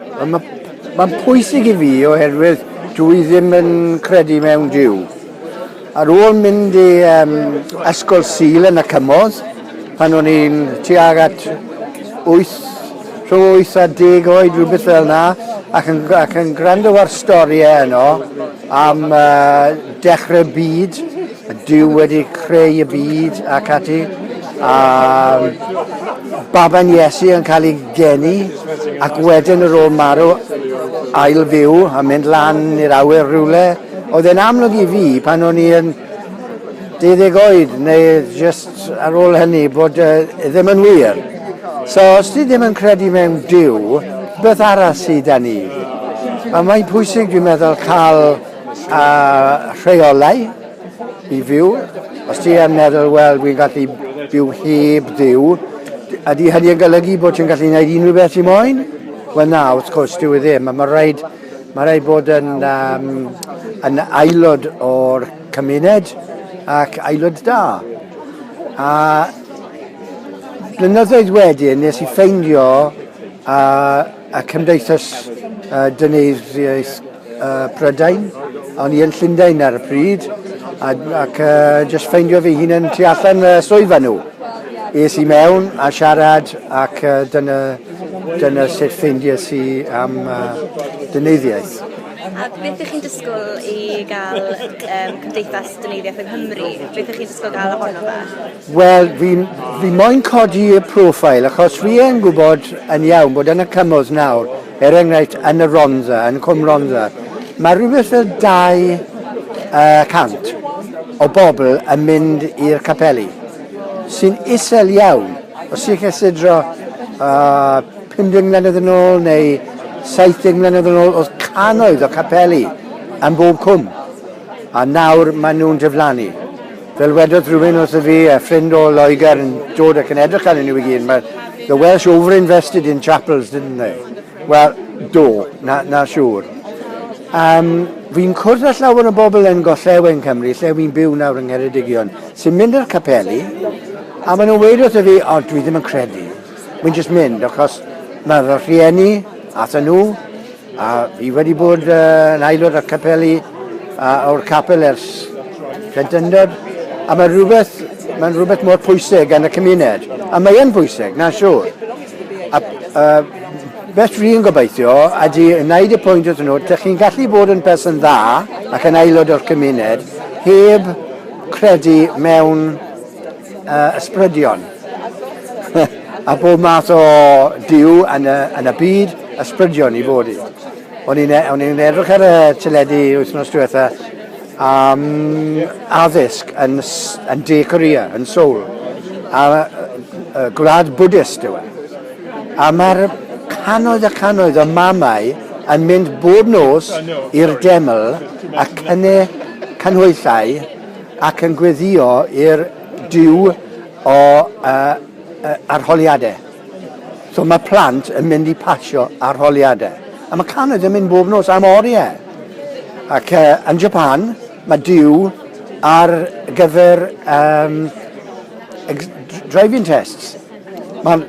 Mae'n pwysig i fi oherwydd dwi ddim yn credu mewn Duw. Ar ôl mynd i um, ysgol Sul yn y Cymoedd, pan o'n i'n tuag at 8, rhwng 8 a 10 oed, rhywbeth fel yna, ac yn, ac yn gwrando ar storiau yno, am dechrau byd, Duw wedi creu y byd ac ati, a baban Iesu yn cael ei geni, ac wedyn yr ôl marw, ail fyw a mynd lan i'r awyr rhywle. Oedd e'n amlwg i fi pan o'n i yn deuddeg oed, neu jyst ar ôl hynny bod e ddim yn wir. So, os ti ddim yn credu mewn Duw, beth arall sydd da ni? A mae'n pwysig, dwi'n meddwl, cael a rheolau i fyw. Os ti yn meddwl, wel, dwi'n gallu byw heb Duw, ydy hynny yn golygu bod ti'n gallu gwneud unrhyw beth ti'n moyn? Wel na, wrth gwrs, dwi e ddim. Mae rhaid, mae rhaid bod yn, um, yn aelod o'r Cymuned ac aelod da. A blynyddoedd wedyn nes i ffeindio a, a Cymdeithas uh, Dyneiddiaeth uh, Prydain, o'n i yn Llundain ar y pryd, a, ac uh, just ffeindio fi hun yn tu allan uh, swyfa nhw. Es i mewn a siarad ac uh, dyna, dyna sut ffeindies i am uh, dyneiddiaeth. A beth ych chi'n disgwyl i gael um, Cymdeithas Dyneiddiaeth yng Nghymru? Beth ych chi'n disgwyl gael ohono fe? Wel, fi, fi moyn codi y profile, achos fi yn gwybod yn iawn bod yn y cymwys nawr, er enghraifft yn y Rondda, yn Cwm Rondda, mae rhywbeth y 200 o bobl yn mynd i'r capeli, sy'n isel iawn. Os chi'n cysidro uh, 50 mlynedd yn ôl neu 70 mlynedd yn ôl oedd cannoedd o capeli ym mhob cwm a nawr maen nhw'n diflannu. Fel wedodd rhywun wrtho fi, a ffrind o Loegr yn dod ac yn edrych arnyn nhw i gyd, mae the Welsh over-invested in chapels, didn't they? Wel, do, na, na siŵr. Um, fi'n cwrdd â llawer o bobl yn gollewen Cymru, lle fi'n byw nawr yng Ngheredigion, sy'n mynd i'r capeli, a maen nhw'n weud wrtho fi, o, dwi ddim yn credu. Wi'n jyst mynd achos mae fy rhieni ato nhw a fi wedi bod yn aelod o'r capeli a o'r capel ers plentyndod a mae rhywbeth, mae'n rhywbeth mor pwysig yn y cymuned a mae yn bwysig, na siŵr. A, a beth dwi'n gobeithio ydy wneud y pwynt wrthyn nhw, dych chi'n gallu bod yn person dda ac yn aelod o'r cymuned heb credu mewn uh, ysbrydion a bob math o diw yn y, yn y byd ysbrydion i fod i. O'n i'n e, edrych ar y teledu wythnos diwetha am addysg yn, yn De Korea, yn Seoul, a, a gwlad Buddhist yw e. A mae'r canoedd a canoedd o mamau yn mynd bob nos i'r deml a cynu canhwyllau ac yn gweddïo i'r Duw o arholiadau. So mae plant yn mynd i pasio arholiadau. A mae cannoedd yn mynd bob nos am oriau. Ac yn Japan, mae Duw ar gyfer driving tests. Mae'n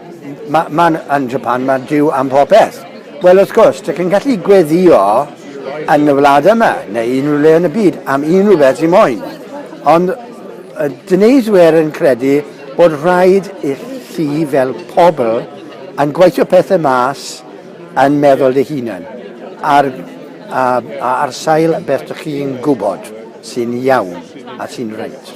ma, ma yn Japan, mae Duw am popeth. Wel, wrth gwrs, dych chi'n gallu gweddio yn y wlad yma, neu unrhyw le yn y byd, am unrhyw beth sy'n moyn. Ond y dyneiswyr yn credu bod rhaid i chi fel pobl yn gweithio pethau mas yn meddwl dy hunan, ar, a, a ar sail beth dych chi'n gwybod sy'n iawn a sy'n reit.